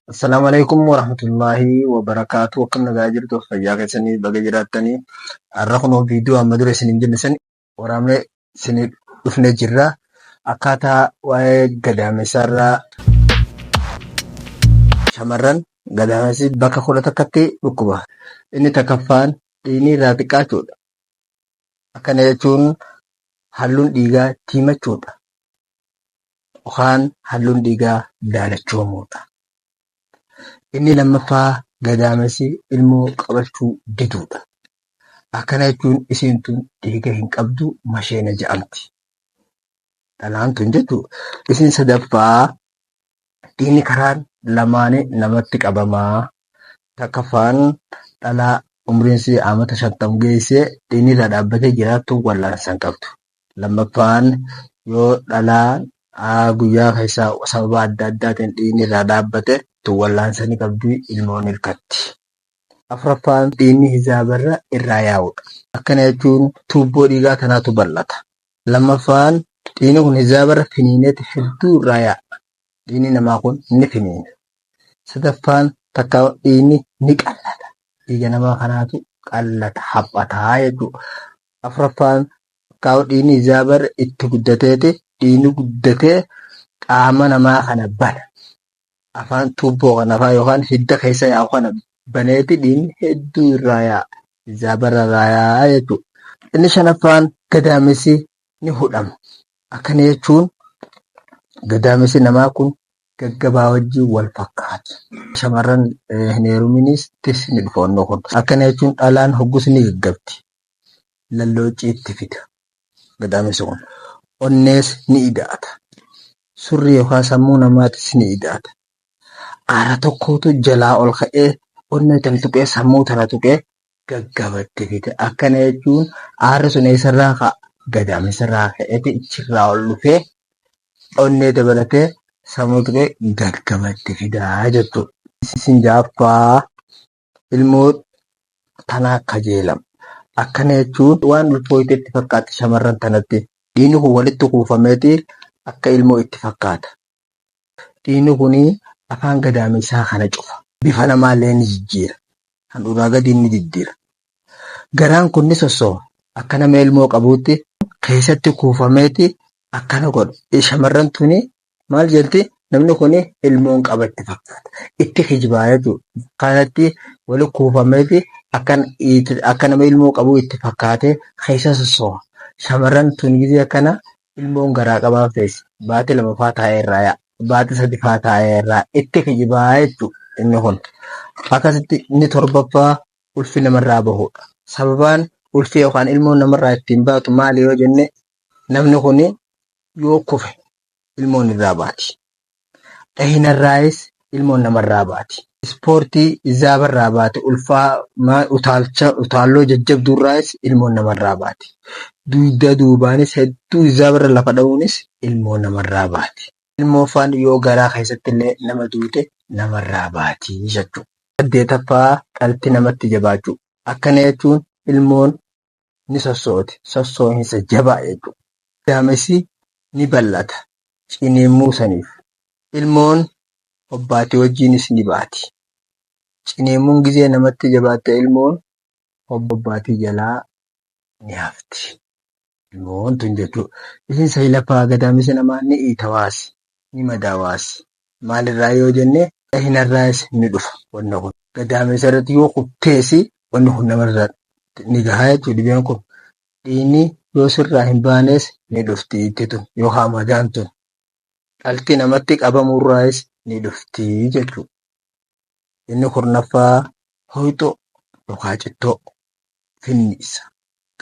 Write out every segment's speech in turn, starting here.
Assalaamu alaikum warahmatullaahi wabarakaatu akkam nagaa jirtu fayyaa keessanii baga jiraattanii har'a kunoo viidiyoo amma dura isiniin jenne san waraabnee isinii dhufnee jirra akkaataa waa'ee gadaamessaa irraa shamarran gadaamessi bakka kudha takkatti dhukkuba inni takkaffaan dhiigni irraa xiqqaachuudha akkana jechuun halluun dhiigaa tiimachuudha Yookaan halluun dhiigaa daalachoomuudha. Inni lammaffaa gadaamessi ilmoo qabachuu diduudha. Akkana jechuun isiin tun dhiiga hin qabdu masheena ja'amti. Dhalaan tun jechuu isiin sadaffaa Dhiigni karaan lamaani namatti qabama. Takkaffaan dhalaa umriin isii amata shantam geesse dhiigni irraa dhaabbatee jiraattu wal'aansa hin qabdu. Lammaffaan yoo dhalaan guyyaa keessa sababa adda addaatiin dhiigni irraa dhaabbate tun wal'aansa ni qabdi ilmoon hirkatti. Afraffaan dhiigni hizaabarra irraa yaa'udha. Akkana jechuun tuubboo dhiigaa tanaatu bal'ata. Lammaffaan dhiigni kun hijaabarra finiineeti hedduu irraa yaa'a. Dhiigni namaa kun ni finiina. Sadaffaan takkaa dhiigni ni qallata. Dhiiga namaa kanaatu qallata, haphataa jechuudha. Afraffaan takkaa dhiigni hijaabarra itti guddateeti dhiigni guddatee qaama namaa kana bana. afaan tuubboo kana afaan yookaan hidda keessa yaa'u kana baneeti dhiigni hedduu irraa yaa'a. Zaabarra irraa yaa'a jechuudha. Inni shanaffaan gadaamessi ni hudhama. Akkana jechuun gadaamessi namaa kun gaggabaa wajjin wal fakkaata. Shamarran hin heeruminis tifsi ni dhufa onnoo kun. Akkana jechuun dhalaan hoggus ni gaggabdi. lallooccii itti fida. Gadaamessi kun onnees ni ida'ata. Surrii yookaan sammuu namaatis ni ida'ata. Aara tokkootu jalaa ol ka'ee onnee tana tuqee sammuu tana tuqee gaggabatti fida. Akkana jechuun aarri sun eessarraa ka'a? Gadaamessarraa ka'eeti ichirraa ol dhufee onnee dabalatee sammuu tuqee gaggabatti fidaa jechuudha. Isin jaaffaa ilmoo tanaa kajeelam. Akkana jechuun waan ulfooyte itti fakkaatti shamarran tanatti. Dhiigni kun walitti kuufameeti akka ilmoo itti fakkaata. Dhiigni kun afaan gadaameysaa kana cufa. Bifa namaallee ni jijjiira. Handhuuraa gadiin ni diddira. Garaan kun ni sossoha. Akka nama ilmoo qabuutti keessatti kuufameeti akkana godha. Shamarran tuni maal jedhti namni kun ilmoon qaba itti fakkaata itti kijibaa jechuudha kanatti wali kuufameeti akkan itti- akka nama ilmoo qabu itti fakkaatee keessa sossooha shamarran tun gizee akkana ilmoon garaa qabaa feesi baati lama faa taa'ee irraa yaa baati sadi faa taa'ee irraa itti kijibaa jechuudha inni kun akkasitti inni torbaffaa ulfi namarraa bahudha sababaan ulfi yookaan ilmoon namarraa ittiin baatu maali yoo jenne Namni kun yoo kufe ilmoon irraa baati. Dhahinarraayis ilmoon namarraa baati. Ispoortii zaabarraa baate ulfaa utaalcha utaalloo jajjabduurraayis ilmoon namarraa baati. Dugda duubaanis hedduu zaabarra lafa dha'uunis ilmoo namarraa baati. Ilmoo faan yoo garaa keessatti illee nama duute namarraa baati jechuudha. Saddeetaffaa dhalti namatti jabaachuu. Akkana jechuun ilmoon ni sosso'oti. Sosso'insa jabaa jechuudha. Daamessi ni bal'ata. Ciniinnuu saniif. Ilmoon hobbaatii wajjiinis ni baati. Ciniinnuun gizee namatti jabaatte ilmoon hobbaatii jalaa ni hafti. Ilmoon tun jechuudha. Isin sayilafaa gadaamessi namaa ni iitawaasi, ni madaawaasi. Maalirraa yoo jenne dhahinarraayis ni dhufa wanni kun. Gadaameessa irratti yoo kuftees wanni kun namarra ni gaha jechuu dhibeen kun. Dhiigni yoo sirraa hin baanees ni dhufti itti tun yookaan madaan tun. Dhalti namatti qabamurraayis ni dhufti jechuu. Inni kurnaffaa hoyxoo yookaan cittoo finniisa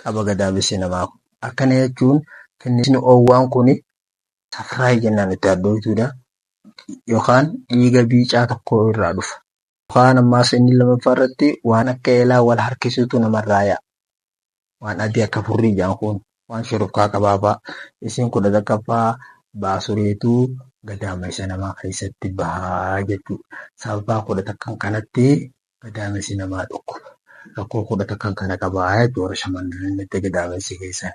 qaba gadaamessi namaa kun. Akkana jechuun finniisni oowwaan kun safraayi jennaan itti hadhooytuudha yookaan dhiiga biicaa tokkoo irraa dhufa. Yookaan ammaas inni lammaffaa irratti waan akka eelaa wal harkisuutu namarraa yaa'a. Waan adii akka furrii jaan kun waan shurufkaa qabaafaa isiin kudha takkaffaa baasureetu gadaamessa namaa keessatti bahaa jechuu. Sababaa kudha takkan kanatti gadaamessi namaa dhukkuba. Rakkoo kudha takkan kana qabaa jechuu warra shamarranitti gadaamessi keessan.